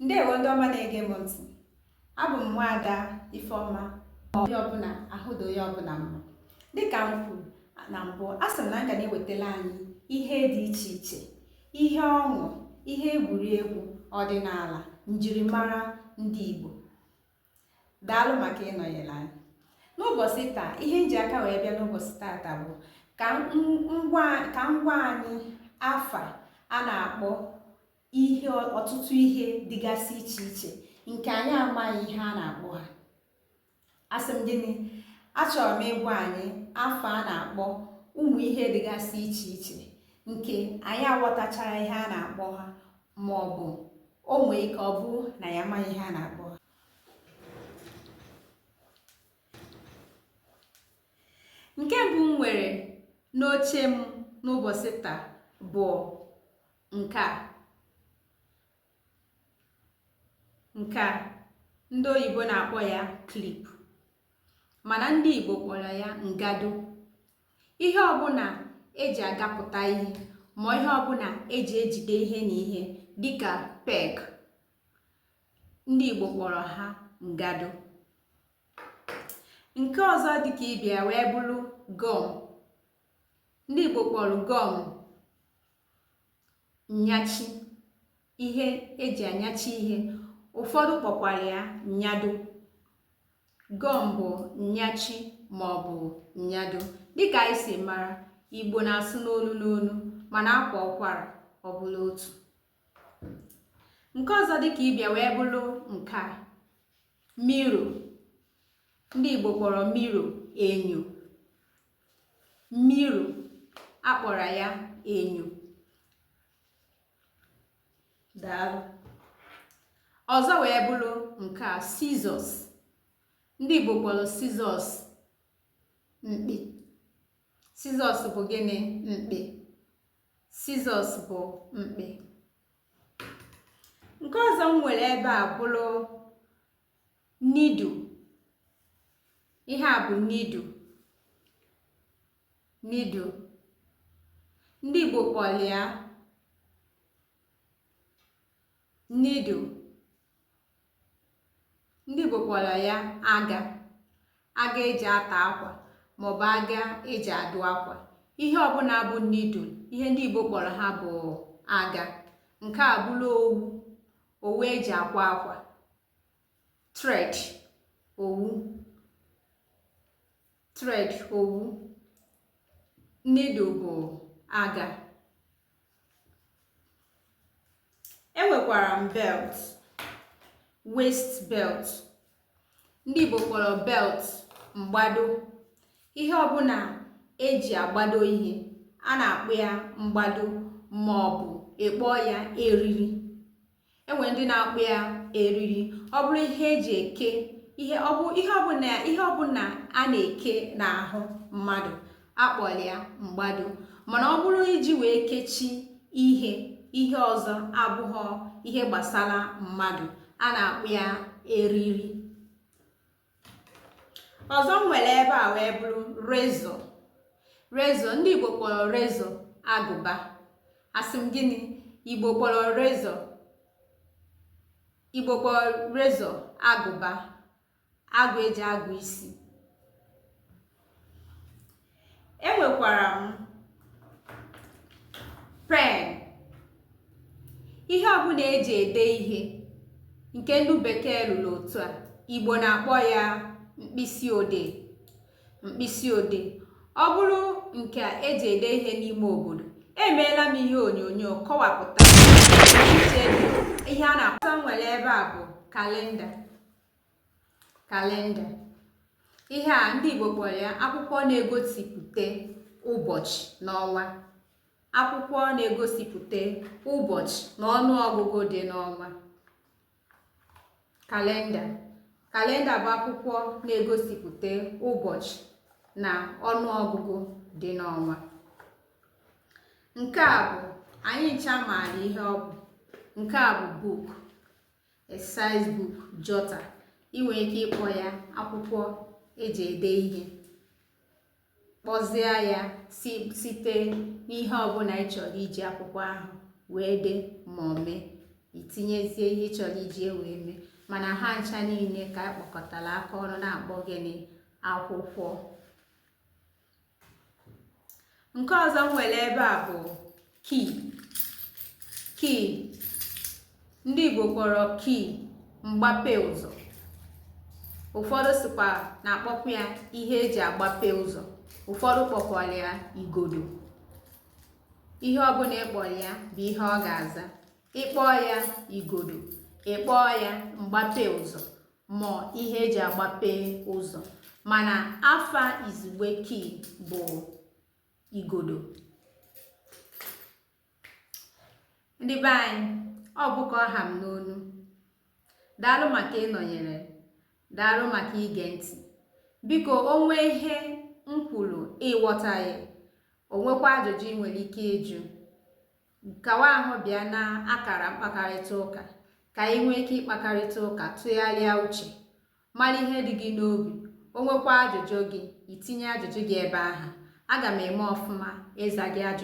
ndewo ndị ọma na-ege m ntị abụ m nwaada ifeọma ahụdo onye ọbụla mma dịka m kwuru na mbụ asị m na m ga na-ewetara anyị ihe dị iche iche ihe ọṅụ ihe egwuregwu ọdịnala njirimara ndị Igbo daalụ maka ịnọnyere anyị n'ụbọchị taa ihe m ji aka wee bịa n'ụbọchị tata bụ ka m gwa anyị afa a na-akpọ ihe ọtụtụ ihe dịgasị iche iche nke anyị amaghị ihe a na-akpọ ha asị m gịnị achọrọ m ịgwa anyị afa a na-akpọ ụmụ ihe dịgasị iche iche nke anyị aghọtachara ihe a na-akpọ ha ma ọ bụ o nwee ike ọ bụrụ na anyị amaghị ihe a na-akpọ ha nke mbụ m nwere n'uche m n'ụbọchị taa bụ nke a nke a ndị oyibo na-akpọ ya clip mana ndị igbo kpọrọ ya ngado ihe ọbụla eji agapụta ihe ma ihe ọbụla eji ejide ihe na ihe dịka peg ndị Igbo kpọrọ ha ngado nke ọzọ dịka ibe ya wee bụrụ gum ndị Igbo kpọrọ gum nnyachi ihe eji anyachi ihe ụfọdụ kpọkwara ya nnyado gum bụ nnyachi maọbụ nnyado dịka anyị si mara igbo na-asụ n'olu n'olu mana a kwaa ụkwara ọ bụrụ otu nke ọzọ dịka ibe ya wee bụrụ nke a mirror ndị igbo kpọrọ mirror enyo mirror a kpọrọ ya enyo ọzọ wee bụrụ nke a scissors ndị igbo kpọrọ scissors mkpị scissors bụ gịnị mkpị scissors bụ mkpị nke ọzọ m nwere ebe a bụrụ needle ihe a bụ needle needle ndị Igbo kpọrọ ya needle ndị Igbo kpọrọ ya aga aga eji ata akwa maọbụ aga eji adụ akwa ihe ọbụla bụ needle ihe ndị Igbo kpọrọ ha bụ aga nke a bụrụ owu owu eji akwa akwa thread owu thread owu needle bụ aga enwekwara m belt waist belt ndị Igbo kpọrọ belt mgbado ihe ọbụla eji agbado ihe a na-akpọ ya mgbado ma ọ bụ ịkpọọ ya eriri enwee ndị na-akpọ ya eriri ọ bụrụ ihe eji eke ihe ọbụ ihe ọbụla ihe ọbụla a na-eke n'ahụ mmadụ akpọrọ ya mgbado mana ọ bụrụ iji wee kechi ihe ihe ọzọ abụghọ ihe gbasara mmadụ a na-akpọ ya eriri ọzọ m nwere ebe a wee bụrụ razor razor ndị igbo kpọrọ razor agụba asị m gịnị igbo kpọrọ razor igbo kpọrọ razor agụba agụ eji agụ isi enwekwara m pen ihe ọbụla eji ede ihe nke ndị bekee rụrụ otu a igbo na-akpọ ya mkpịsị odee mkpịsị odee ọ bụrụ nke eji ede ihe n'ime obodo emeela m ihe onyonyo kọwapụta ihe a na-akpọta nwere ebe a bụ kalenda kalenda ihe a ndị Igbo kpọrọ ya akwụkwọ na-egosipụta ụbọchị na ọnwa akwụkwọ na-egosipụta ụbọchị na ọnụ ọgụgụ dị n'ọnwa kalenda kalenda bụ akwụkwọ na-egosipụta ụbọchị na ọnụ ọgụgụ dị n'ọnwa nke a bụ anyị ncha maara ihe ọ bụ nke a bụ book exercise book jotter ị nwere ike ịkpọ ya akwụkwọ eji ede ihe kpọzie ya site n'ihe ọbụla ị chọrọ iji akwụkwọ ahụ wee dee ma ọ mee itinyezie ihe ị chọrọ iji wee mee mana ha ncha niile ka a kpọkọtara aka ọnụ na-akpọ gịnị akwụkwọ nke ọzọ m nwere ebe a bụ key key ndị Igbo kpọrọ key mgbape ụzọ ụfọdụ sịkwa na-akpọkwa ya ihe eji agbape ụzọ ụfọdụ kpọkwara ya igodo ihe ọbụla ịkpọrọ ya bụ ihe ọ ga-aza ịkpọọ ya igodo ịkpọọ ya mgbape ụzọ ma ihe eji agbape ụzọ mana afa izugbe key bụ igodo ndị be anyị ọ bụ ka ọ ha m n'ọnụ daalụ maka ịnọnyere daalụ maka ige ntị biko o nwee ihe m kwuru ị ghọtaghị o nwekwa ajụjụ ị nwere ike ịjụ Nkọwa ahụ bịa na akara mkpakarịta ụka ka anyị nwee ike ịkpakarịta ụka, tụgharịa uche, mara ihe dị gị n'obi, o nwekwa ajụjụ gị, i tinye ajụjụ gị ebe ahụ. Aga m eme ọfụma ịza gị ajụjụ.